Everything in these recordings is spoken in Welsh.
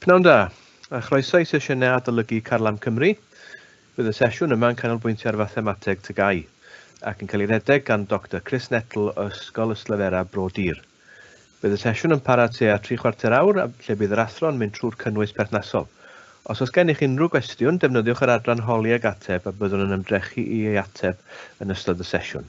Pnawn da, a chroeso i sesiynau Adolygu Carlam Cymru. Bydd y sesiwn yma yn canolbwyntio ar Fathemateg TGAU, ac yn cael ei redeg gan Doctor Chris Nettle o Ysgol Yslefera Bro Dur. Bydd y sesiwn yn para tua tri chwarter awr, lle bydd yr athro yn mynd trwy'r cynnwys perthnasol. Os oes gennych unrhyw gwestiwn, defnyddiwch yr adran Holi ag Ateb a byddwn yn ymdrechu i ei ateb yn ystod y sesiwn.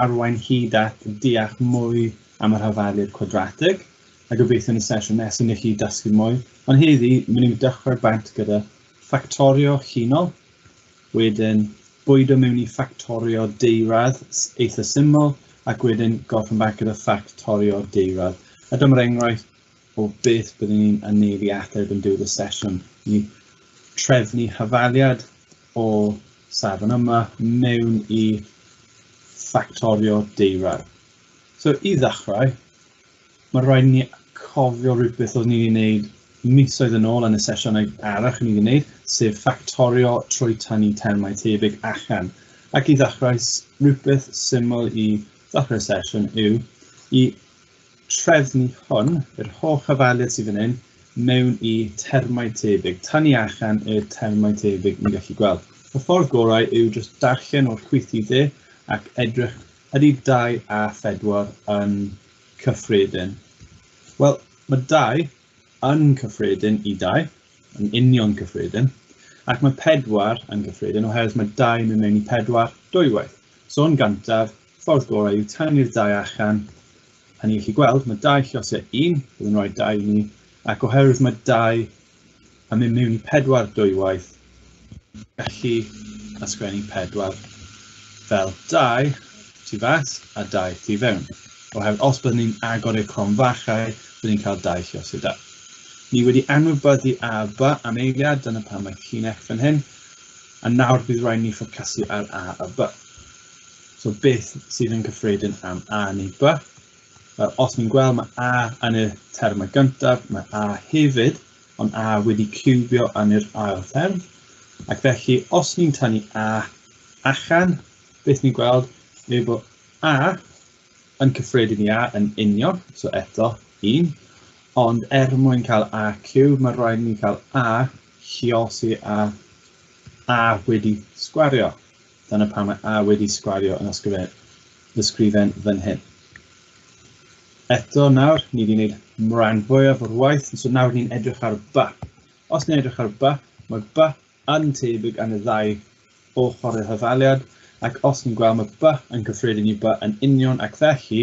arwain hyd at deall mwy am y rhafaliad cwadratig, a gobeithio yn y sesiwn nesaf ni chi dysgu mwy, ond heddi mynd ni'n dechrau bant gyda ffactorio llinol, wedyn bwydo mewn i ffactorio deiradd eitha syml, ac wedyn gorffen bant gyda ffactorio deiradd. A dyma'r enghraifft o beth byddwn ni'n ynneud i ateb yn diwedd y sesiwn. Ni trefnu hafaliad o safon yma mewn i ffactorio deirau. So i ddechrau, mae rhaid ni cofio rhywbeth oedd ni'n gwneud misoedd yn ôl yn y sesiynau arach ni'n gwneud, sef ffactorio trwy tynnu termau tebyg allan. Ac i ddechrau, rhywbeth syml i ddechrau sesiwn yw i trefnu hwn, yr holl ofaliad sydd fan hyn, mewn i termau tebyg. Tan ni allan y termau tebyg ni'n gallu gweld. Y ffordd gorau yw jyst darllen o'r chwyth i dde ac edrych ydy 2 a 4 yn cyffredin. Wel, mae 2 yn cyffredin i 2, yn union cyffredin, ac mae 4 yn gyffredin oherwydd mae 2 yn mynd mewn i 4 dwywaith. So yn gantaf, Ffordd gorau yw taenu'r dau achan, a ni'n gallu gweld mae dau llosau un, bydd yn rhoi dau i ni, ac oherwydd mae dau yn mynd mewn i pedwar dwywaith, gallu ysgrifennu pedwar fel dau tu fas a dau tu fewn, oherwydd os byddwn ni'n agor i'r cronfachau, byddwn ni'n cael dau llosau da. Ni wedi anwybyddu A a B am eiliad, dyna pam mae ci'n F fan hyn, a nawr bydd rhaid ni ffocysu ar A a B. So beth sydd yn cyffredin am A neu B? Wel, os ni'n gweld mae A yn y term y gyntaf, mae A hefyd, ond A wedi cywbio yn yr ail term. Ac felly, os ni'n tynnu A allan, beth ni'n gweld yw bod A yn cyffredin i A yn union, so eto 1, ond er mwyn cael A cywb, mae rhaid ni cael A lliosi a A wedi sgwario. Dyna pam mae A wedi sgwario yn ysgrifen fan hyn. Eto nawr, ni wedi gwneud rhan fwyaf o'r waith, so nawr ni'n edrych ar ba. Os ni'n edrych ar ba, mae ba yn tebyg yn y ddau ochr y hyfaliad, ac os ni'n gweld mae ba yn cyffredin i ba yn union ac felly,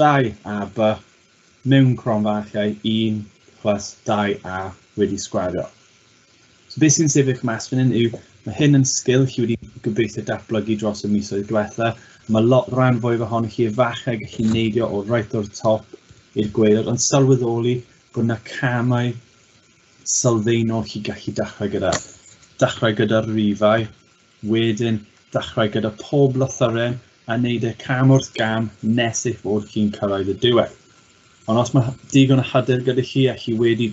2 a b mewn cronfarchiau 1 plus 2 a wedi sgwario. So beth sy'n sefyll mas fan hyn yw, mae hyn yn sgil chi wedi gobeithio datblygu dros y misoedd diwetha. Mae lot rhan fwyaf ohonoch chi efallai gallu neidio o right o'r top i'r gweilod, ond sylweddoli bod yna camau sylfaenol chi gallu dechrau gyda. Dechrau gyda'r rifau, Wedyn, dechrau gyda pob lythyren a wneud e cam wrth gam nes eich bod chi'n cyrraedd y diwedd. Ond os mae digon o hyder gyda chi a chi wedi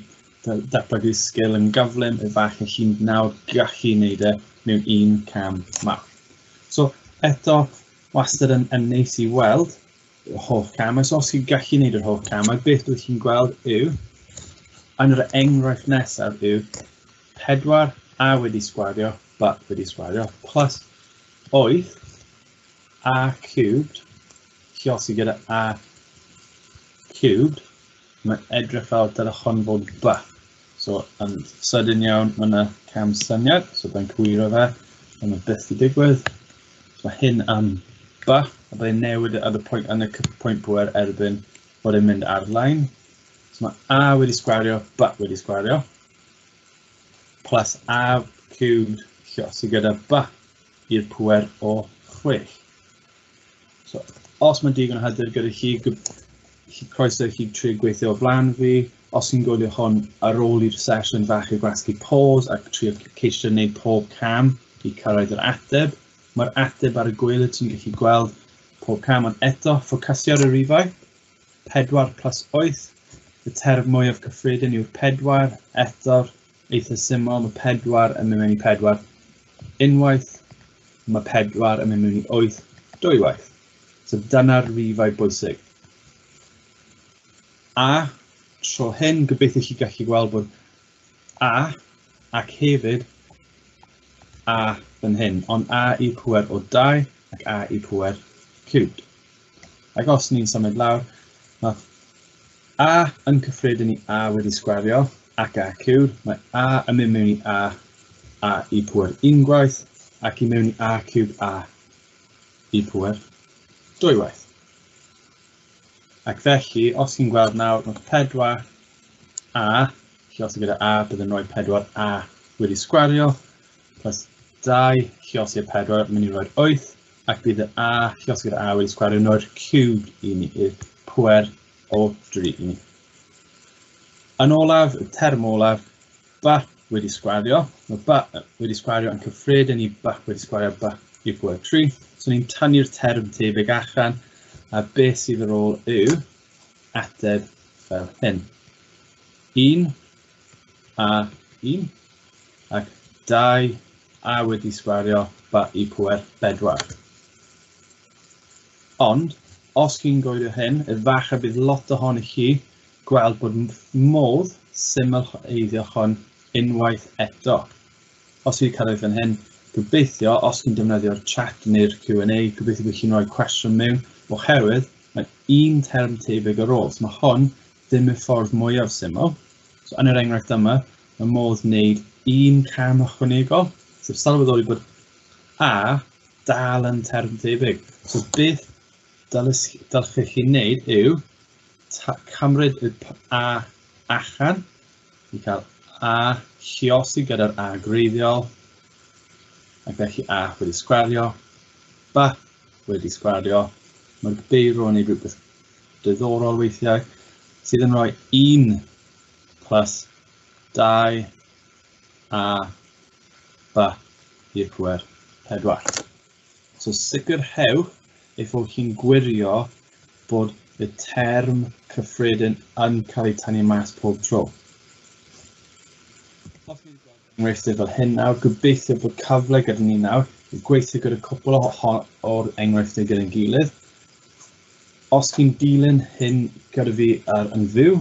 datblygu'r sgil yn gyflym, efallai chi'n nawr gallu wneud e mewn un cam mawr. So, eto, wastad yn, yn neis i weld yr holl camau. So, os chi'n gallu wneud yr holl camau, beth wyt chi'n gweld yw, yn yr enghraifft nesaf yw, 4 a wedi sgwario, b wedi sgwario, plus 8 a cubed, lluosi gyda a cubed, mae'n edrych fel dylech hwn fod b. So, yn sydyn iawn, mae yna cam syniad, so byddai'n cywiro fe, ond mae byth i digwydd. So, mae hyn am b, a byddai'n newid ar y pwynt, yn y pwynt bwer erbyn bod e'n mynd ar-lein. So, mae a wedi sgwario, b wedi sgwario. plus av cubed lle sydd gyda ba i'r pwer o 6. So, os mae'n digon o hyder gyda chi, chi croeso i chi trio gweithio o flan fi. Os chi'n gwylio hon ar ôl i'r sesiwn fach i gwasgu pause ac trio ceisio wneud pob cam i cyrraedd yr ateb, mae'r ateb ar y gweilydd ti'n gallu gweld pob cam ond eto ffocasio ar y rifau. 4 plus 8, y term mwyaf cyffredin yw'r 4, eto'r eitha syml, mae 4 yn mynd mewn i 4 unwaith, mae 4 yn mynd mewn i 8 dwywaith. So dyna'r rifau bwysig. A tro hyn, gobeithio chi gallu gweld bod A ac hefyd A fan hyn, ond A i pwer o 2 ac A i pwer cubed. Ac os ni'n symud lawr, mae A yn cyffredin i A wedi sgwario ac A cywir. Mae A yn mynd mewn i A, A i pwer un gwaith, ac i mewn i A cywb A i pwer dwy waith. Ac felly, os chi'n gweld nawr, mae 4 A, chi os gyda A, bydd yn rhoi 4 A wedi sgwario, plus 2 chi os i'r 4, mynd i roi'r 8, Ac bydd yr A, llosgi'r A wedi sgwario no'r cube i ni, i'r pwer o 3 i ni. Yn olaf, y term olaf, B wedi sgwario, mae B wedi sgwario yn cyffredin i B wedi sgwario B i'r pwer 3. So ni'n tanu'r term tebyg allan, a beth sydd ar ôl yw ateb fel hyn. 1 a un, ac dau a wedi sgwario ba i pwer bedwar. Ond, os chi'n goelio hyn, efallai bydd lot ohoni chi gweld bod modd syml eiddio hon unwaith eto. Os chi'n cyrraedd fan hyn, gobeithio, os chi'n defnyddio'r chat neu'r Q&A, gobeithio bod chi'n rhoi cwestiwn mewn, oherwydd mae un term tebyg ar ôl. So mae hon Dim y ffordd mwyaf syml. So, yn yr enghraifft yma, mae modd wneud un cam ychwanegol, sef sylweddoli bod A dal yn term tebyg. So beth dylech chi wneud yw cymryd y A achan i cael A lliosi gyda'r A greiddiol ac felly A wedi sgwario, ba wedi sgwario, mae'r beirw yn ei rhywbeth diddorol weithiau sydd yn rhoi un plus dau a ba i'r pŵer pedwar. So sicrhewch ei fod chi'n gwirio bod y term cyffredin yn cael ei tynnu mas pob tro. enghreifftiau fel hyn nawr. Gobeithio bod cyfle gyda ni nawr i gweithio gyda cwpl o o'r enghreifftiau gyda'n gilydd. Os chi'n dilyn hyn gyda fi ar yn fyw,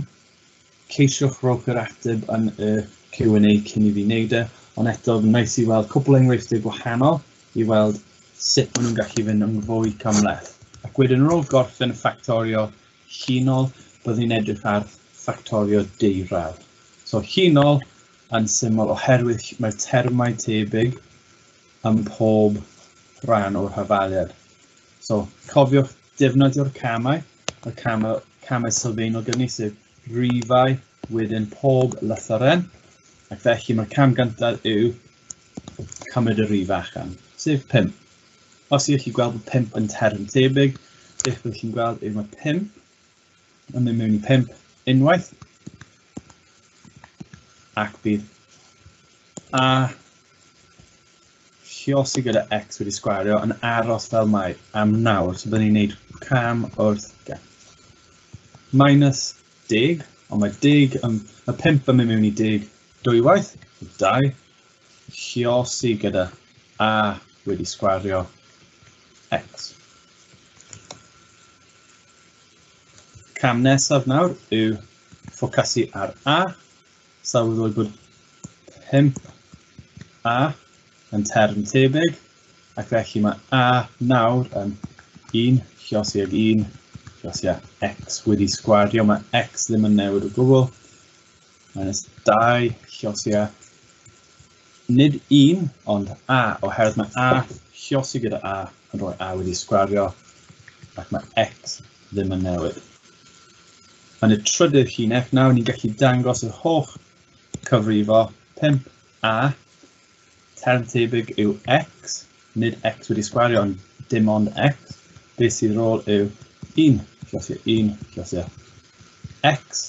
ceisiwch rowch yr ateb yn y Q&A cyn i fi wneud e, ond eto fy nice i weld cwpl o enghreifftiau gwahanol i weld sut maen nhw'n gallu fynd yn fwy cymleth. Ac wedyn yn ôl gorffen y ffactorio llinol, byddwn ni'n edrych ar ffactorio deurawd. So llinol, yn syml oherwydd mae'r termau tebyg ym mhob rhan o'r hafaliad. So, cofiwch defnyddio'r camau, y camau, camau sylfaenol gyni, sef rifau, wedyn pob lythyren, ac felly mae'r cam gyntaf yw cymryd y rif allan, sef 5. Os ydych chi'n gweld bod 5 yn term tebyg, beth byddwch chi'n gweld yw mae 5 yn mynd mewn i pump unwaith ac bydd a lliosi gyda x wedi sgwario yn aros fel mae am nawr. So byddwn ni'n gwneud cam wrth gam. Minus deg, ond mae deg, um, y pimp yn mynd mewn i deg dwywaith, dau, lliosi gyda a wedi sgwario x. Cam nesaf nawr yw ffocasu ar A. Sylweddoli bod 5A yn term tebyg ac felly mae A nawr yn 1 llosi ag 1 llosi a x wedi sgwario, mae x ddim yn newid o gwbl. Minus 2 llosiau. Nid un, ond a, oherwydd mae a llosi gyda a yn rhoi a wedi sgwario ac mae x ddim yn newid. Yn y trydydd llinell, nawr ni'n gallu dangos yr holl cyfrifo 5a, term tebyg yw x, nid x wedi sgwario ond dim ond x, beth sydd rôl yw 1 llosiau 1 llosiau x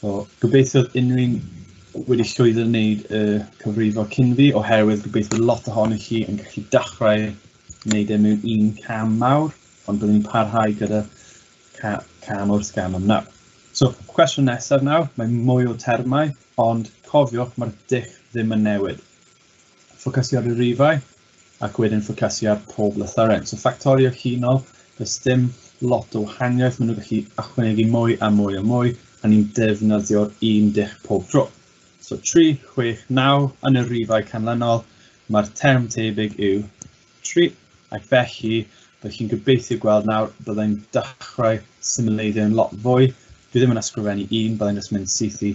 So, gobeithio unrhyw un wedi llwyddo wneud y cyfrifo cyn fi, oherwydd gobeithio lot ohonych chi yn gallu dechrau wneud e mewn un cam mawr, ond byddwn ni'n parhau gyda ca cam wrth gam am nawr. So, cwestiwn nesaf nawr, mae mwy o termau, ond cofiwch, mae'r dull ddim yn newid. ffocysu ar y rifau ac wedyn ffocysu ar pob lythyren. So ffactorio chinol, does dim lot o wahaniaeth, maen nhw'n gallu ychwanegu mwy a mwy a mwy, a ni'n defnyddio'r un dull pob tro. So 3, 6, 9 yn y rifau canlynol, mae'r term tebyg yw 3, ac felly bych chi'n gobeithio gweld nawr byddai'n dechrau symleiddio'n lot fwy. Dwi ddim yn ysgrifennu un, byddai'n just mynd syth i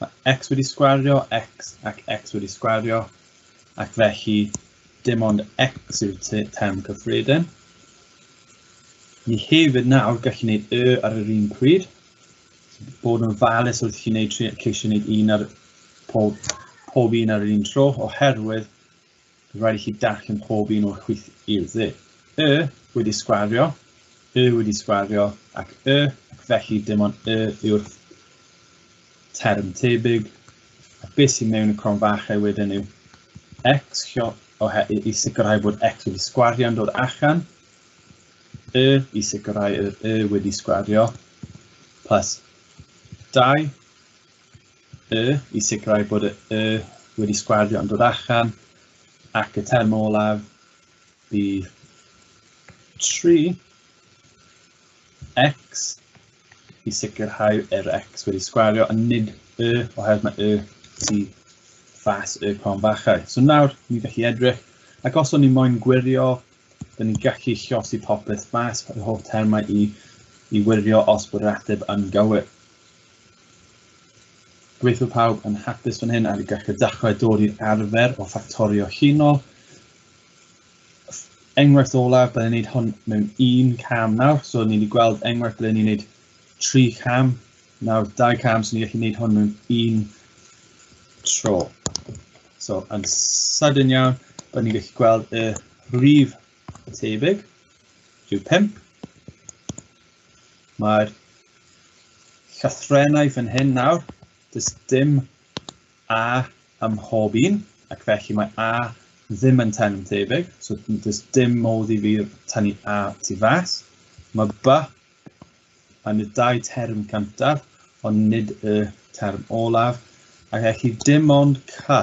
Mae x wedi sgwario x ac x wedi sgwario, ac felly dim ond x yw'r term cyffredin. Ni hefyd nawr gallu gwneud y ar yr un pryd, bod yn falus wrth chi wneud, ceisio gwneud un ar pob, pob un ar yr un tro, oherwydd Bydd rhaid i chi darllen pob un o'r chwith i'r dde. Y wedi sgwario, y wedi sgwario, ac y, ac felly dim ond y yw'r term tebyg. A beth sy'n mewn y cron fachau wedyn yw x i sicrhau bod x wedi sgwario'n dod allan, y i sicrhau yr y wedi sgwario, plus 2 y i sicrhau bod y y wedi sgwardio yn dod allan ac y term olaf bydd 3 x i sicrhau yr x wedi sgwario a nid y oherwydd mae y tu fas y con fachau. So nawr ni'n gallu edrych ac os o'n ni moyn gwirio, dyn ni'n gallu llosi popeth mas, yr holl termau i, i wirio os bod yr ateb yn gywir. Gweithio pawb yn hapus fan hyn ac gallu dechrau dod i'r arfer o ffactorio huno. Enghraifft olaf, byddwn ni'n gwneud hwn mewn un cam nawr, so ni wedi gweld enghraifft byddwn ni'n gwneud tri cam, nawr dau cam, so ni'n gallu gwneud hwn mewn un tro. So yn sydyn iawn, byddwn ni'n gallu gweld y rhif tebyg, rhyw 5, Mae'r llythrennau fan hyn nawr, does dim A ym mhob un, ac felly mae A ddim yn tenant tebyg, so does dim modd i fi tynnu A tu fas. Mae B yn y dau term cyntaf, ond nid y term olaf, ac felly dim ond C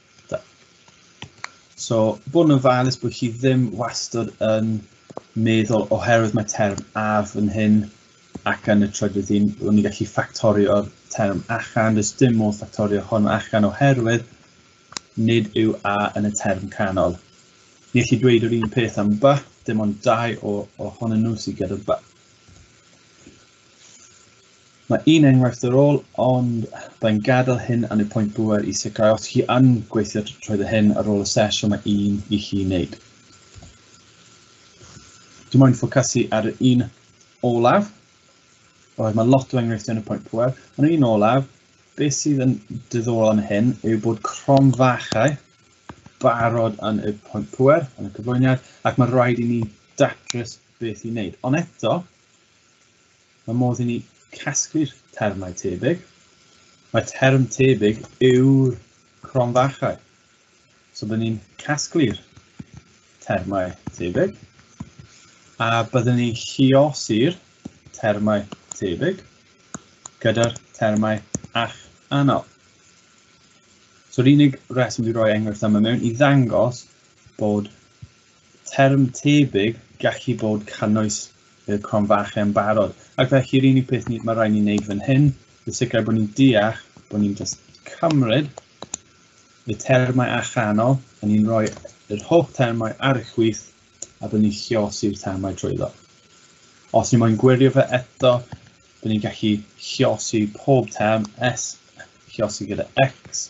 So, bod yn ofalus bod chi ddim wastad yn meddwl oherwydd mae term af yn hyn ac yn y trydydd un, bod ni'n gallu ffactorio'r term achan, does dim modd ffactorio hwn achan oherwydd nid yw a yn y term canol. Ni allu dweud yr un peth am ba, dim ond dau o, o hon yn nhw sydd gyda ba. Mae un enghraifft ar ôl, ond byddai'n gadael hyn am y pwynt bŵer i sicrhau os chi yn gweithio trwy y hyn ar ôl y sesiwn mae un i chi wneud. Dwi'n moyn ffocysu ar yr un olaf, oedd mae lot o enghreifftiau yn y pwynt pwer, ond yn un olaf, beth sydd yn diddorol am hyn yw bod crom fachau barod yn y pwynt pwer, yn y cyflwyniad, ac mae rhaid i ni datrys beth i wneud. Ond eto, Mae modd i ni casglu'r termau tebyg. Mae term tebyg yw'r cronfachau. So byddwn ni'n casglu'r termau tebyg a byddwn ni'n lliosi'r termau tebyg gyda'r termau ach anol. So'r unig reswm dwi'n rhoi enghraifft yma mewn i ddangos bod Term tebyg, gallu bod canoes i'r cronfache yn barod. Ac felly, yr unig peth ni, mae rhaid ni wneud fan hyn, yw sicrhau bod ni'n deall, bod ni'n just cymryd y termau allanol, a ni'n rhoi yr holl termau ar y chwith, a bod ni'n llosi'r termau trwyddo. Os ni moyn gwirio fe eto, bod ni'n gallu llosi pob term S, llosi gyda X,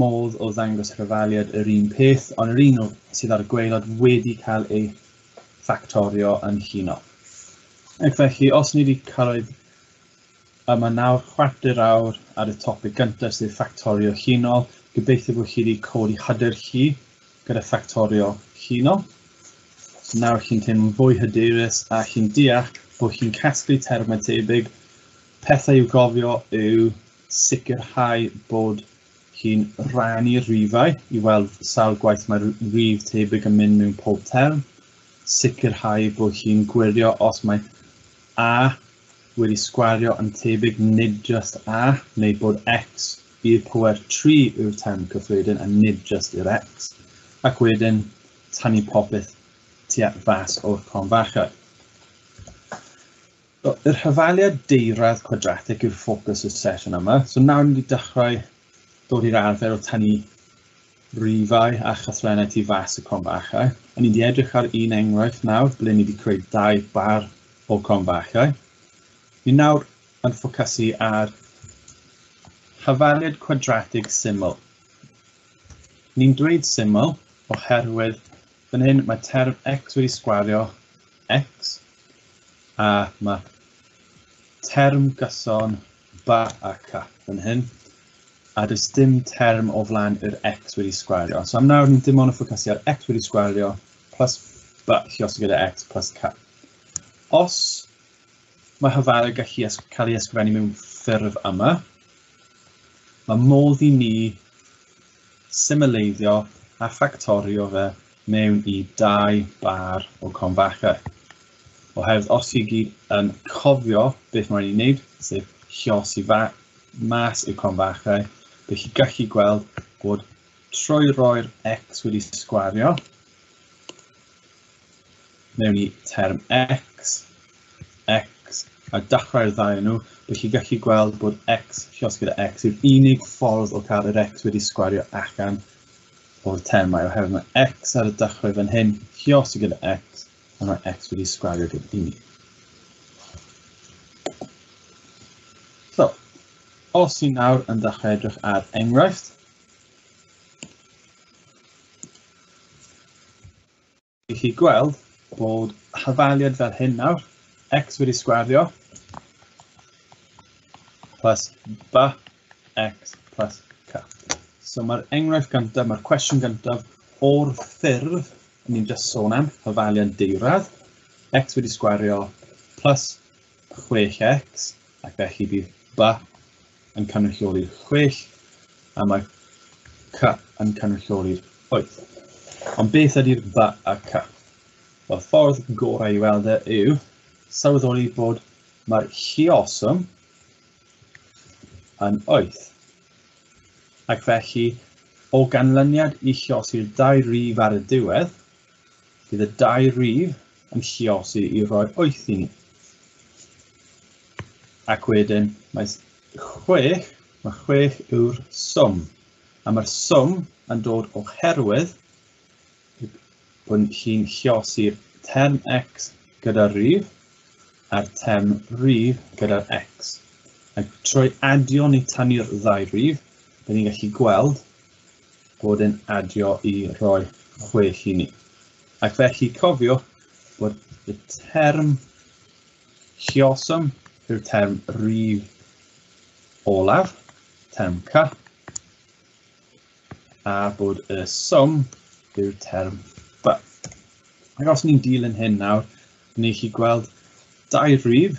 modd o ddangos rhyfaliad yr un peth, ond yr un sydd ar y gwaelod wedi cael ei ffactorio yn huno. Ac felly, os ni wedi cyrraedd yma nawr chwarter awr ar y topig gyntaf sef ffactorio hunol, gobeithio bod chi wedi codi hyder chi gyda ffactorio hunol. So nawr chi'n teimlo'n fwy hyderus a chi'n deall bod chi'n casglu termau tebyg, pethau i'w gofio yw sicrhau bod chi'n rhannu'r rhifau i weld sawl gwaith mae'r rhif tebyg yn mynd mewn pob term, sicrhau bod chi'n gwirio os mae a wedi sgwario yn tebyg nid just a, neu bod x i'r power 3 yw'r term cyffredin a nid just i'r x, ac wedyn tanu popeth tua fas o'r con fachau. So, yr hyfaliad deirad cwadratig yw'r ffocws y sesiwn yma. So nawr ni wedi dechrau dod i'r arfer o tynnu rifau a chaswennau tu fas y cronfachau. A ni wedi edrych ar un enghraifft nawr ble ni wedi creu dau bar o cronfachau. Ni nawr yn ffocysu ar hyfaliad cwadratig syml. Ni'n dweud syml oherwydd fan hyn mae term x wedi sgwario X, a mae term gyson ba a ca fan hyn, a does dim term o flaen yr X wedi sgwario. So am nawr ni'n dim ond yn ffocysu ar X wedi sgwario plus ba llios gyda X plus ca. Os mae hyfalu gallu cael ei ysgrifennu mewn ffurf yma. Mae modd i ni symleiddio a ffactorio fe mewn i dau bar o Confacher. Oherwydd os i gyd yn cofio beth mae'n ei wneud, sef llosi fa mas i'r Confacher, bydd chi gallu gweld bod trwy roi'r x wedi sgwario mewn i term x, x a dachrau'r ddau nhw, bydd chi gallu gweld bod x llosgi gyda x yw'r unig ffordd o cael yr x wedi sgwario allan o'r termau oherwydd mae x ar y dechrau fan hyn, Hiosi gyda x, a mae x wedi sgwario gyda i ni. So, os ni nawr yn dechrau edrych ar enghraifft, i chi gweld bod hafaliad fel hyn nawr, x wedi sgwario plus ba x plus k. So mae'r enghraifft gyntaf, mae'r cwestiwn gyntaf o'r ffurf ni'n just sôn am, hafaliad deirad, x wedi sgwario plus 6x, ac felly bydd ba yn cynrychioli'r chwech a mae C yn cynrychioli'r wyth. Ond beth ydy'r B a C? Wel, ffordd gorau i weld e yw sylweddoli bod mae'r llioswm yn wyth. Ac felly, o ganlyniad i lliosi'r dau rif ar y diwedd, Bydd y dau rif yn lluosi i roi wyth i ni. Ac wedyn mae chwech, mae chwech yw'r swm. A mae'r swm yn dod oherwydd bod hi'n lluosi'r term x gyda'r rif a'r term rif gyda'r x. Ac trwy adio ni tanu'r ddau rif, byddwn ni'n gallu gweld bod yn adio i roi chwech i ni. Ac felly cofiwch bod y term lluosum yw'r term rif olaf, term C, a bod y swm yw'r term B. Ac os ni'n dilyn hyn nawr, ni chi gweld dau rif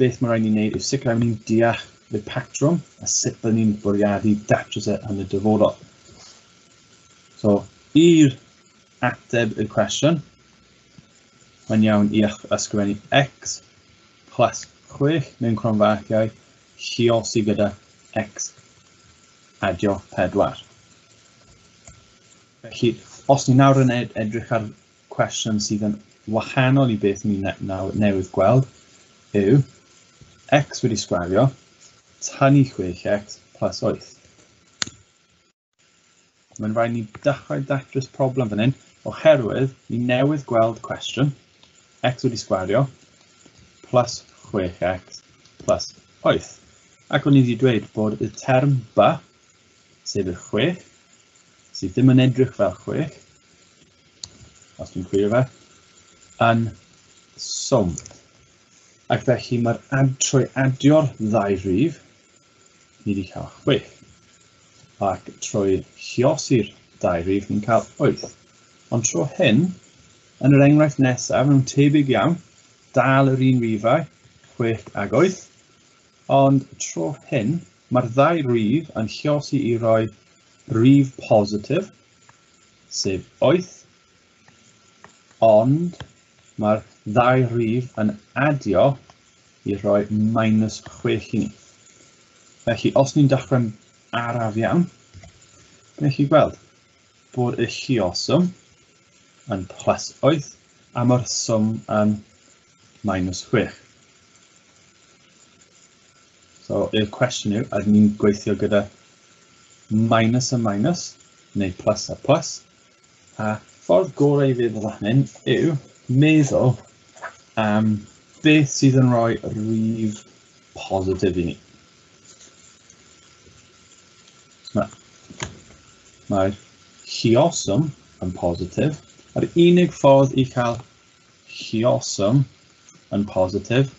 beth mae rhaid ni wneud yw sicrhau bod ni'n deall y patrwm a sut byddwn ni'n bwriadu datrys e yn y dyfodol. So, i'r ateb y cwestiwn, mae'n iawn i ysgrifennu x plus 6 mewn cronfarciau lliosi gyda x adio 4. Felly, os ni nawr yn edrych ar cwestiwn sydd yn wahanol i beth ni nawr newydd gweld yw x wedi sgwario tynnu 6x plus 8. Mae'n rhaid ni dechrau datrys problem fan hyn oherwydd ni newydd gweld cwestiwn x wedi sgwario plus 6x plus 8. Ac o'n i wedi dweud bod y term ba, sef y 6, sydd ddim yn edrych fel 6, os dwi'n chwilio fe, yn swm. Ac felly mae'r ad trwy adio'r ddau rhif, ni wedi cael 6. Ac trwy chiosi'r ddau rhif, ni'n cael 8. Ond tro hyn, yn yr enghraifft nesaf, nhw'n tebyg iawn, dal yr un rifau, 6 ag 8, ond tro hyn, mae'r ddau rif yn chiosi i roi rif positif, sef 8, ond mae'r ddau rif yn adio i roi minus 6 i ni. Felly, os ni'n dechrau'n araf iawn, gwneud chi gweld bod y llioswm yn plus 8 a mae'r swm yn minus 6. So, y cwestiwn yw, ydyn ni'n gweithio gyda minus a minus, neu plus a plus, a ffordd gorau i feddwl fan hyn yw meddwl am um, beth sydd yn rhoi rhif positif i ni. Mae'r mae llioswm yn positif, a'r unig ffordd i cael Lluosum yn positif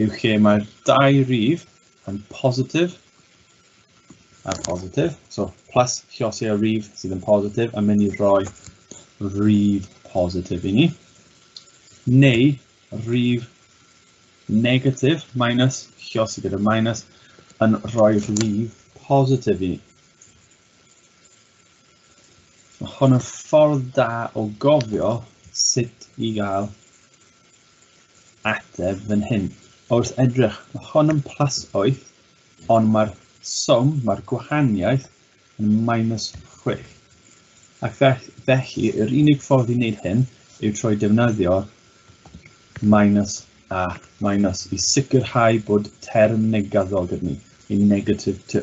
yw lle mae'r dau rif yn positif a positif. So plus lliosi a rif sydd yn positif yn mynd i roi rif positif i ni. Neu rif negatif minus lliosi gyda minus yn rhoi rif positif i ni. Mae hon yn ffordd da o gofio sut i gael ateb fan hyn. Wrth edrych, mae hon yn plus 8, ond mae'r swm, mae'r gwahaniaeth yn minus 6. Ac felly, yr unig ffordd i wneud hyn yw trwy defnyddio minus a minus i sicrhau bod term negaddol gyda ni, neu negative 2.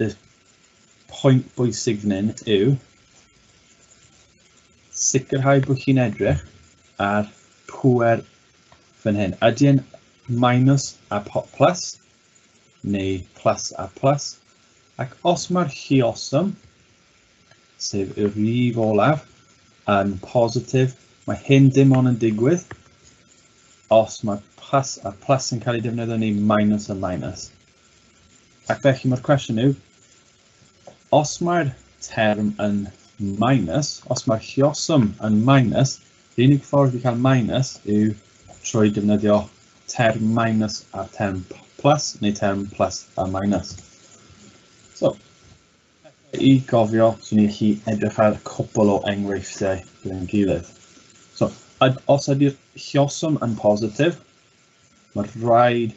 y pwynt bwysig fan hyn yw sicrhau bod chi'n edrych ar pwer fan hyn. Ydy yn minus a plus neu plus a plus. Ac os mae'r lliosum, sef y rif olaf, yn positif, mae hyn dim ond yn digwydd os mae plus a plus yn cael ei defnyddio neu minus a minus. Ac felly mae'r cwestiwn yw, os mae'r term yn minus, os mae'r llioswm yn minus, yr unig ffordd i cael minus yw trwy defnyddio term minus a'r term plus, neu term plus a minus. So, i gofio, swn i'n chi edrych ar cwpl o enghreifftiau gyda'n gilydd. So, os ydy'r llioswm yn positif, mae'r rhaid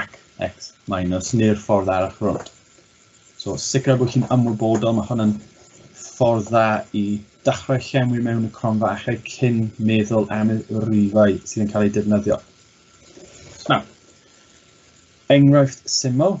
ac X minus neu'r ffordd arall rownd. So sicrhau bod chi'n ymwybodol, mae hwn yn ffordd dda i dechrau llenwi mewn y cronfa achau cyn meddwl am y rifau sydd yn cael eu defnyddio. Nawr, enghraifft syml,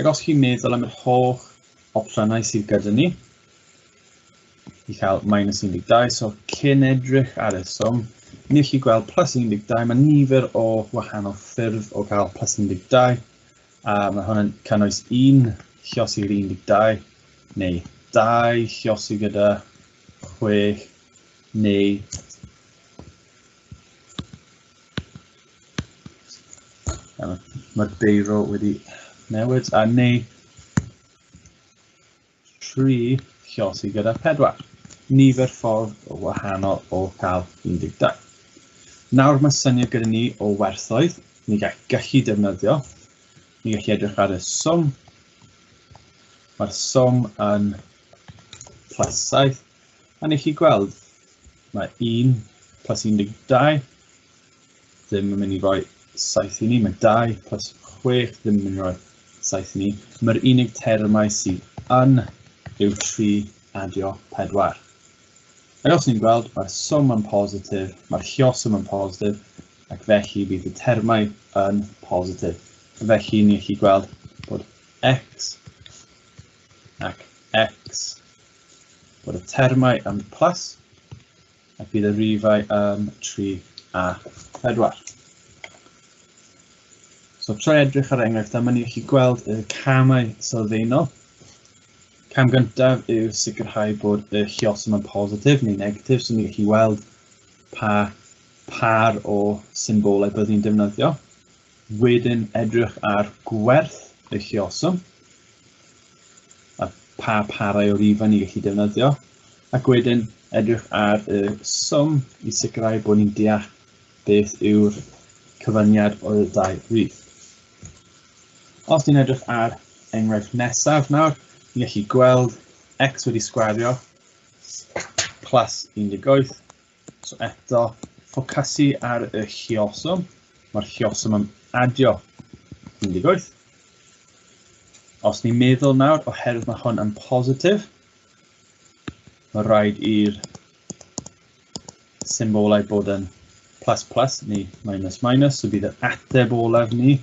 Ac os chi'n meddwl am yr holl opsiynau sydd gyda ni, i cael minus 12, so cyn edrych ar y swm, ni chi gweld plus 12, mae nifer o wahanol ffyrdd o gael plus 12, a mae hwn yn cynnwys un llosi 12, neu dau llosi gyda 6, neu Mae'r beiro wedi newid a neu tri llosi gyda pedwar. Nifer ffordd o wahanol o cael 12. Nawr mae syniad gyda ni o werthoedd, ni gall gallu defnyddio, ni gallu edrych ar y swm, mae'r swm yn plus 7, a ni chi gweld mae 1 plus 12 ddim yn mynd i roi 7 i ni, mae 2 plus 6 ddim yn mynd i roi 7 i ni. Mae'r unig termau sydd yn yw 3 adio 4. Ac os ni'n gweld, mae'r swm yn positif, mae'r llioswm yn positif, ac felly bydd y termau yn positif. Felly ni'n gallu gweld bod x ac x, bod y termau yn plus, A bydd y rifau yn 3 a 4. So trwy edrych ar enghraifft am ni chi gweld y camau sylfaenol. Cam gyntaf yw sicrhau bod y lliosum yn positif neu negatif, so ni'n chi weld pa par o symbolau bydd ni'n defnyddio. Wedyn edrych ar gwerth y lluosog a pa parau o rifau ni'n gallu defnyddio, ac wedyn edrych ar y swm i sicrhau bod ni'n deall beth yw'r cyfyniad o'r ddau rif. Os ni'n edrych ar enghraifft nesaf nawr, ni'n gallu gweld x wedi sgwario plus 18 So eto, ffocasu ar y llioswm. Mae'r llioswm yn adio 18. Os ni'n meddwl nawr, oherwydd mae hwn yn positif, mae rhaid i'r symbolau bod yn plus plus neu minus minus, so bydd yr ateb olaf ni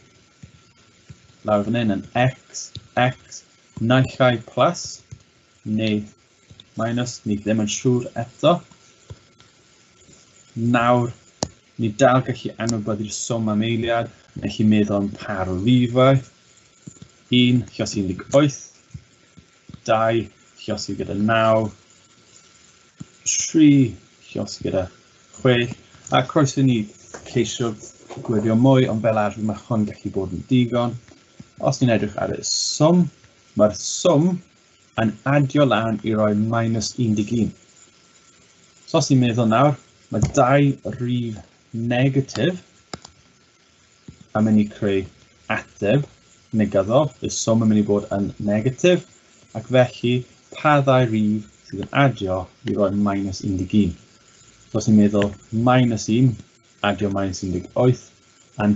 lawr fan hyn yn x, x, naill ai plus neu minus, ni ddim yn siŵr eto. Nawr, ni dal gallu anwybod i'r swm am eiliad, mae chi meddwl am par o rifau, 1, chios 18, 2, chios i gyda 9, 3, chios i gyda 6, a croeso i ni ceisio gweddio mwy, ond fel arfer mae hwn gallu bod yn digon. Os ni'n edrych ar y swm, mae'r swm yn adio lan i roi minus 11. So os ni'n meddwl nawr, mae dau rif negatif a mynd i creu ateb negyddol, y swm yn mynd i bod yn negatif, ac felly pa ddau rif sydd yn adio i roi minus 11. So os ni'n meddwl minus 1 adio minus 18, a'n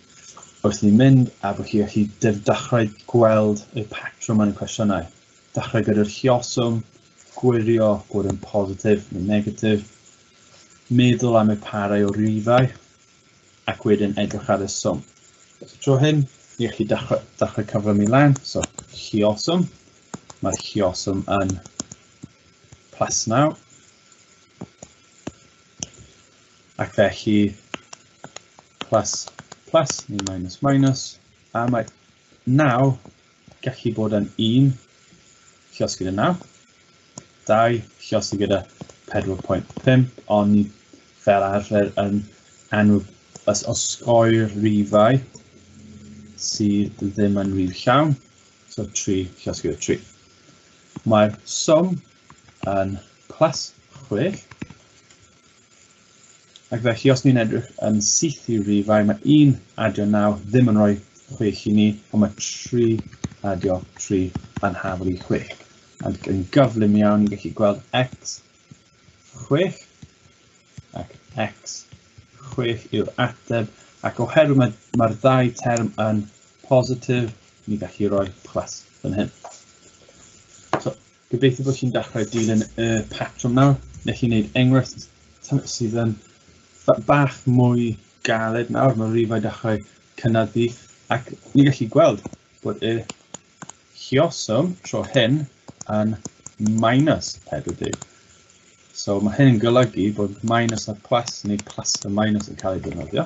Wrth ni mynd a bo hir hyd dydd dachrau gweld y patrwm yn y cwestiynau. Dachrau gyda'r lluoswm, gwirio bod yn positif neu negatif, meddwl am y parau o rifau ac wedyn edrych ar y swm. Os y tro hyn, ni allai dachrau, dachrau cyflymu lan, so lluoswm, mae'r lluoswm yn plus 9 ac felly Plus, plus neu minus, minus. A mae naw gallu bod yn un llos gyda naw. Dau llos gyda 4.5, ond ni fel arfer yn enw os osgoi'r rifau sydd ddim yn rif llawn, so 3 llos gyda 3. Mae'r swm yn plus 6, Ac felly, os ni'n edrych yn syth i rifau, mae 1 adio 9 ddim yn rhoi 6 i ni, ond mae 3 adio 3 yn hafel i 6. Ac yn gyflym iawn, ni'n gallu gweld x 6 ac x 6 yw'r ateb, ac oherwydd mae'r mae ddau term yn positif, ni'n gallu rhoi plus yn hyn. So, Gobeithio bod chi'n dechrau dilyn y patrwm nawr. Neu chi'n gwneud enghraifft sydd yn bach mwy galed nawr. Mae rifau dechrau cynyddu ac ni'n gallu gweld bod y llioswm tro hyn yn minus 40. So mae hyn yn golygu bod minus a plus neu plus a minus yn cael ei defnyddio.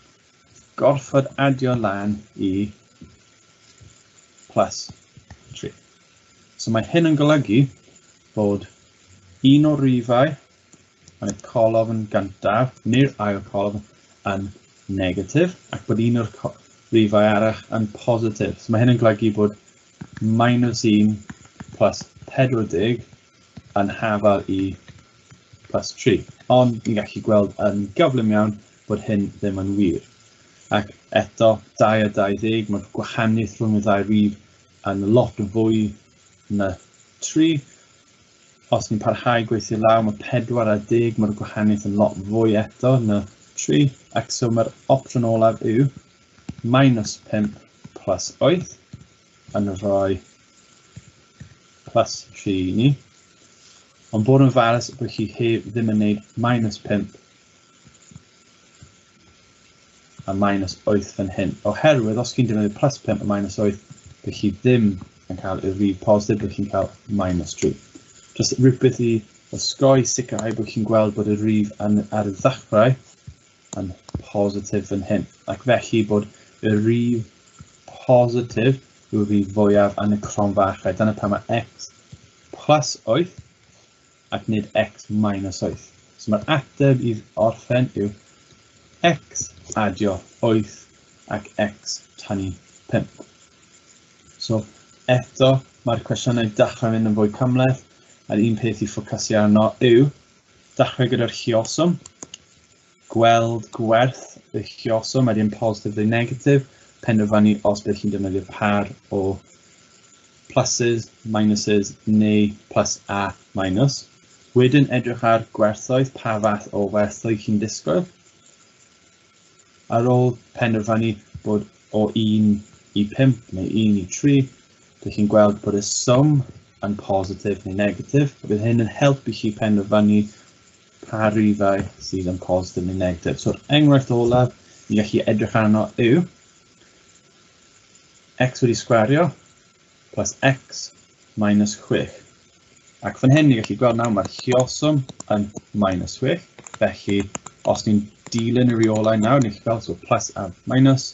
gorfod adio lan i plus 3. So mae hyn yn golygu bod un o'r rifau yn y colofn gyntaf neu'r ail colofn yn negatif ac bod un o'r rifau arall yn positif. So mae hyn yn golygu bod minus 1 plus 40 yn hafal i plus 3. Ond ni'n gallu gweld yn gyflym iawn bod hyn ddim yn wir. Ac eto, 22, mae'r gwahaniaeth rhwng y ddau rif yn lot fwy na 3. Os ni'n parhau gweithio law, mae 4 a 10, mae'r gwahaniaeth yn lot fwy eto na 3. Ac so mae'r opsiwn olaf yw minus 5 plus 8 yn rhoi plus 3 i ni. Ond bod yn falus bod chi heb ddim yn gwneud minus 5 a minus 8 fan hyn. Oherwydd os chi'n defnyddio plus 5 a minus 8, dych chi ddim yn cael y rif positif, dych chi'n cael minus 3. Just rhywbeth i osgoi sicrhau bod chi'n gweld bod y rif yn, ar y ddechrau yn positif fan hyn. Ac felly bod y rif positif yw'r rif fwyaf yn y cron fachau. Dyna pan mae x plus 8 ac nid x minus wyth. So mae'r ateb i orffen yw x adio wyth ac x tynnu pump. So eto, mae'r cwestiynau dechrau mynd yn fwy cymhleth, a'r un peth i ffocysu arno yw dechrau gyda'r lluoswm, gweld gwerth y lluosog, mae dim positif neu negatif, penderfynu os bydd chi'n defnyddio par o pluses, minuses neu plus a minus. Wedyn edrych ar gwerthoedd, pa fath o werthoedd chi'n disgwyl. Ar ôl penderfynu bod o 1 i 5 neu 1 i 3, dych chi'n gweld bod y swm yn positif neu negatif. Bydd hyn yn helpu chi penderfynu Pa rifau sydd yn positif neu negatif. So'r enghraifft olaf ni'n gallu edrych arno yw x wedi sgwario plus x minus 6. Ac fan hyn ni'n gallu gweld nawr mae'r llioswm yn minus 6. Felly, os ni'n dilyn y reolau nawr, ni'n gallu gweld so plus a minus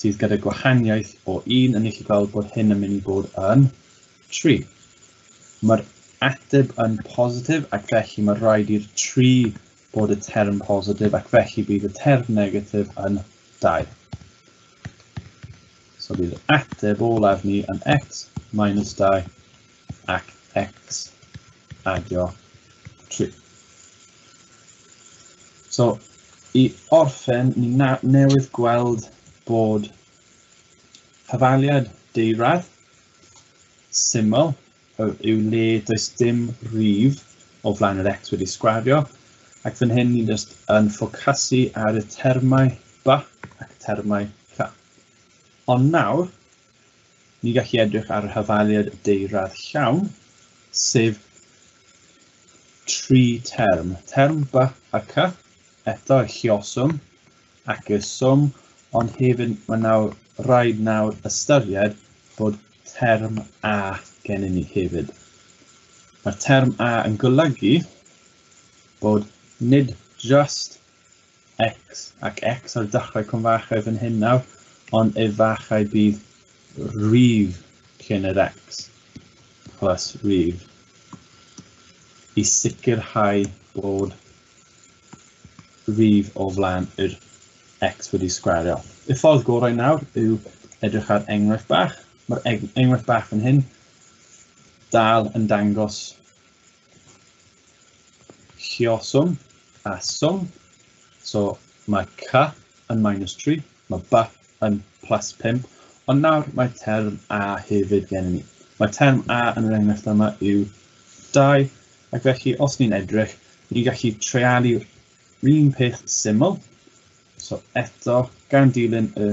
sydd gyda gwahaniaeth o un yn eich gweld bod hyn yn mynd i bod yn 3. Mae'r ateb yn positif ac felly mae rhaid i'r 3 bod y term positif ac felly bydd y term negatif yn 2. So bydd ateb olaf ni yn x minus 2 ac x adio 3. So, i orffen, ni na newydd gweld bod cyfaliad deirad syml yw le does dim rif o flaen yr x wedi sgwario, ac fan hyn ni'n just yn ffocasu ar y termau ba ac termau ca. Ond nawr, Ni gallu edrych ar hafaliad y deyrad llawn, sef tri term, term by a cy, eto y llioswm ac y swm, ond hefyd mae nawr rhaid nawr ystyried bod term a gennym ni hefyd. Mae'r term a yn golygu bod nid just X, ac X ar dechrau cwmfachau fan hyn nawr, ond y fachau bydd rif cyn yr X plus rif i sicrhau bod rif o flaen yr X wedi sgwario. Y ffordd gorau nawr yw edrych ar enghraifft bach. Mae'r enghraifft bach fan hyn dal yn dangos Lluoswm a swm. So mae ca yn minus 3, mae ba yn plus 5, ond nawr mae term a hefyd gen ni. Mae term a yn yr enghraifft yma yw 2, ac felly os ni'n edrych, ni'n gallu treialu'r un peth syml. So eto, gan dilyn y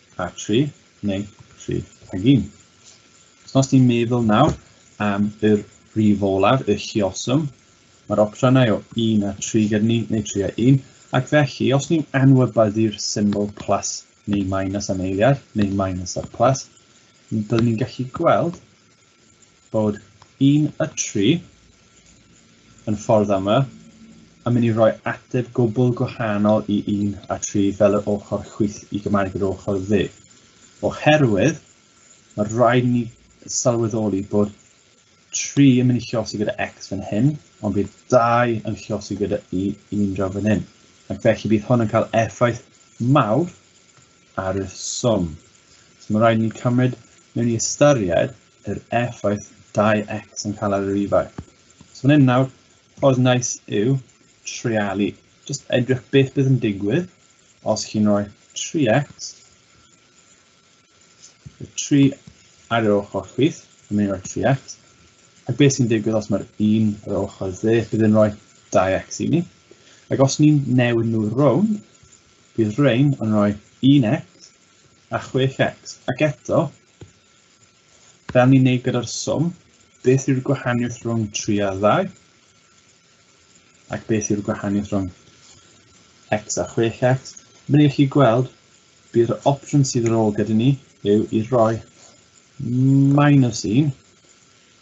a 3 neu 3 ag 1. So os ti'n meddwl nawr am y rhif olaf, y llioswm, mae'r opsiynau o 1 a 3 gyda ni, neu 3 a 1, ac felly os ni'n anwybyddu'r symbol plus neu minus am eiliad, neu minus a plus, byddwn ni'n gallu gweld Bod un a tri yn ffordd ama, a mynd i roi ateb gwbl gwahanol i un a tri fel yr ochr chwith i Gymraeg yr ochr dde. Oherwydd, mae rhaid i ni sylweddoli bod tri yn mynd i llosi gyda X fan hyn, ond bydd dau yn llosi gyda i un draw fan hyn. Ac felly bydd hwn yn cael effaith mawr ar y swm. So mae rhaid i ni cymryd mewn i ystyried yr effaith 2x yn cael ar yr ifai. So fan hyn nawr, oedd nice yw treialu. Just edrych beth bydd yn digwydd os chi'n rhoi 3x, y 3 ar yr ochr chwith, yn mynd i roi 3x, ac beth sy'n digwydd os mae'r 1 ar yr ochr dde, bydd yn rhoi 2x i ni. Ac os ni'n newid nhw rownd, bydd rhain yn rhoi 1x a 6x. Ac eto, Fel ni'n neud gyda'r swm, beth yw'r gwahaniaeth rhwng 3 a 2? Ac beth yw'r gwahaniaeth rhwng x a 6x? Fel ych chi gweld, bydd yr opsiwn sydd ar ôl gyda ni yw i roi minus 1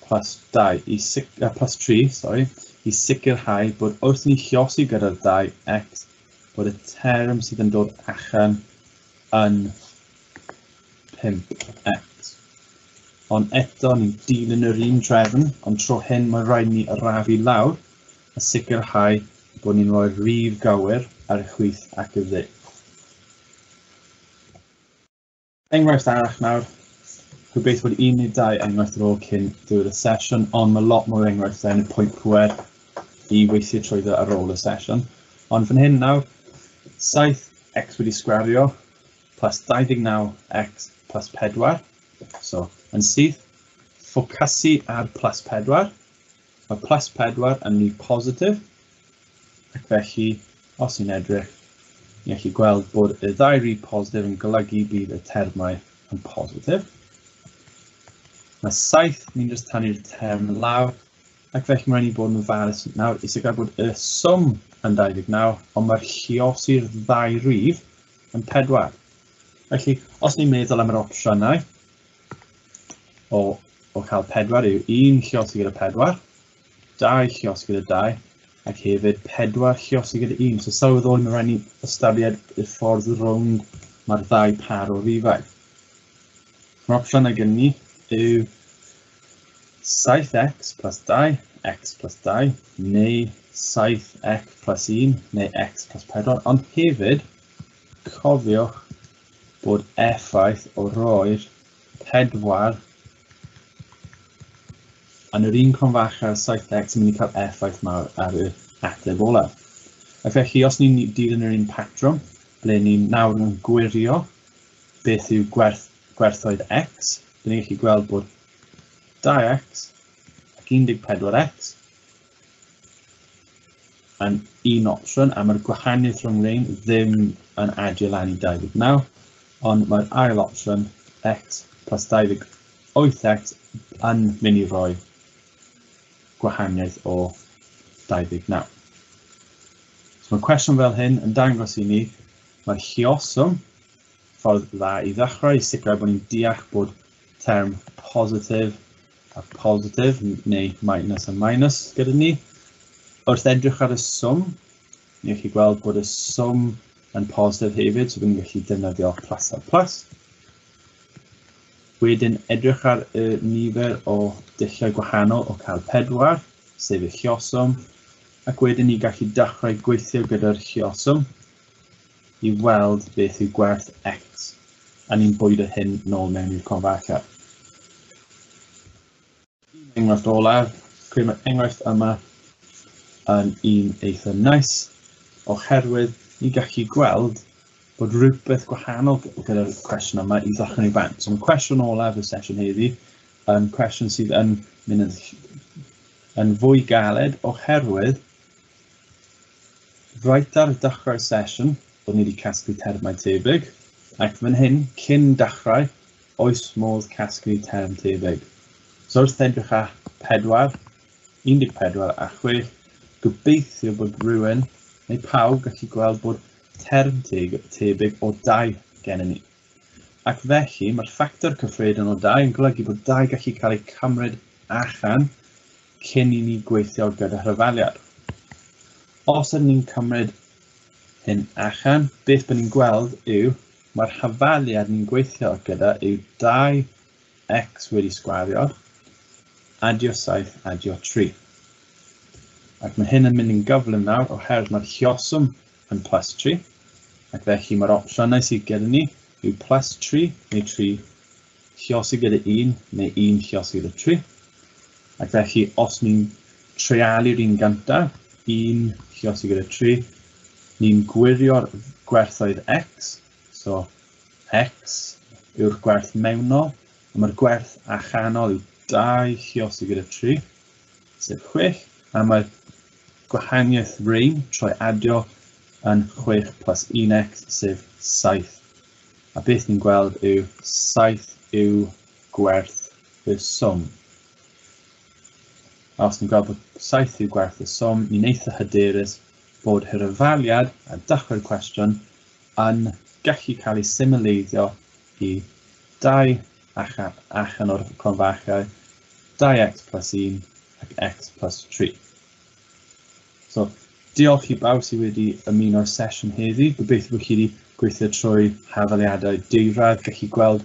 plus 2 i sic, uh, plus 3 sorry, i sicrhau bod wrth ni chiosi gyda'r 2x bod y term sydd yn dod allan yn 5x. Ond eto ni'n dilyn yr un drefn, ond tro hyn mae rhaid ni arafu lawr a sicrhau bod ni'n rhoi'r rif gywir ar y chwith ac y dde. Enghraifft arall nawr, gobeith bod un neu dau enghraifft ar ôl cyn diwedd y sesiwn, ond mae lot mwy o enghraifftau yn y pwynt pwer i weithio trwyddo ar ôl y sesiwn. Ond fan hyn nawr, 7x wedi sgwario plus 29x plus 4. So, yn syth, ffocasu ar plus 4. Mae plus 4 yn rif positif, ac felly, os ni'n edrych, ni'n gallu gweld bod y ddau rif positif yn golygu bydd y termau yn positif. Mae 7, ni'n just tanu'r term lawr, ac felly mae'n ei bod yn ofalus nawr is y gael bod y swm yn 29, ond mae'r lliosi'r ddau rif yn pedwar. Felly, os ni'n meddwl am yr opsiynau o, o cael pedwar yw un llios gyda pedwar, dau llios gyda dau, ac hefyd pedwar llios gyda un. So sylweddoli mae rhaid ni ystyried y ffordd rownd mae'r ddau par o rifau. Mae'r opsiynau gen ni yw 7x plus 2, x plus 2, neu 7x plus 1, neu x plus 4, ond hefyd cofiwch bod effaith o roi'r pedwar yn yr un cronfach â'r 7x yn mynd i cael effaith mawr ar yr ateb olaf. A felly, os ni'n dilyn yr un patrwm, ble ni'n nawr yn gwirio beth yw gwerth, gwerthoedd x, Dyn ni'n gallu gweld bod 2x ac 14x yn un opsiwn, a mae'r gwahaniaeth rhwng rein ddim yn adio lan i 29, ond mae'r ail opsiwn x plus 28x yn mynd i roi gwahaniaeth o 29. So mae cwestiwn fel hyn yn dangos i ni mae'r llioswm ffordd dda i ddechrau i sicrhau bod ni'n deall bod term positif a positif neu minus a minus gyda ni. Wrth edrych ar y swm, ni'n chi gweld bod y swm yn positif hefyd, so byddwn ni'n gallu defnyddio plus a plus. Wedyn edrych ar y nifer o dulliau gwahanol o cael pedwar, sef y llioswm, ac wedyn ni gallu dechrau gweithio gyda'r llioswm. i weld beth yw gwerth X, a ni'n bwydo hyn nôl mewn i'r converter. Un enghraifft olaf, credu mae'r enghraifft yma yn un eitha nice, oherwydd ni'n gallu gweld bod rhywbeth gwahanol gyda'r cwestiwn yma i ddechrau ni bant. So mae cwestiwn olaf y sesiwn heddi yn cwestiwn sydd yn mynd yn, yn fwy galed oherwydd Reit ar ddechrau'r sesiwn, o'n i wedi casglu termau tebyg, ac fan hyn, cyn dechrau, oes modd casglu term tebyg? So wrth edrych ar 4, 14 a 6, gobeithio bod rhywun neu pawb gallu gweld bod term tebyg o dau gennym ni. Ac felly, mae'r ffactor cyffredin o dau yn golygu bod dau gallu cael eu cymryd allan cyn i ni gweithio gyda rhyfaliad. Os ydyn ni'n cymryd hyn allan, beth byddwn ni'n gweld yw mae'r rhyfaliad ni'n gweithio gyda yw 2x wedi sgwario, adio 7, adio 3. Ac mae hyn yn mynd yn gyflym nawr oherwydd mae'r llioswm yn plus 3, ac felly mae'r opsiynau sydd gyda ni yw plus 3 neu 3 Lluosi gyda un neu un lluosi gyda tri. Ac felly, os ni'n treialu'r un gynta, un lluosi gyda tri, ni'n gwirio'r gwerthoedd x, so x yw'r gwerth mewnol, a mae'r gwerth allanol yw 2 lluosi gyda 3, sef 6, a mae'r gwahaniaeth rein troi adio yn 6 plus 1x, sef 7. A beth ni'n gweld yw 7 yw gwerth y swm. A os ni'n gweld bod 7 yw gwerth y swm, ni'n eitha hyderus bod hirafaliad a dachwedd cwestiwn yn gallu cael ei symleiddio i 2 achan o'r cronfachau 2x plus 1 ac x plus 3. So, diolch i bawb sydd wedi ymuno'r sesiwn heddi. Gobeithio bod chi wedi gweithio trwy hafaliadau deirad, gallu gweld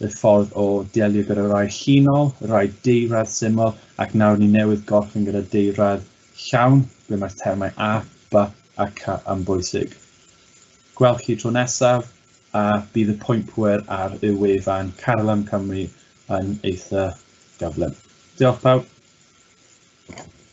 y ffordd o delio gyda rai llinol, rai deirad syml, ac nawr ni newydd gorffen gyda deirad llawn, ble mae'r termau a, ba a ca yn bwysig. Gwelch chi tro nesaf, a bydd y pwynt pwer ar y wefan Carlam Cymru yn eitha gyflym. Diolch pawb.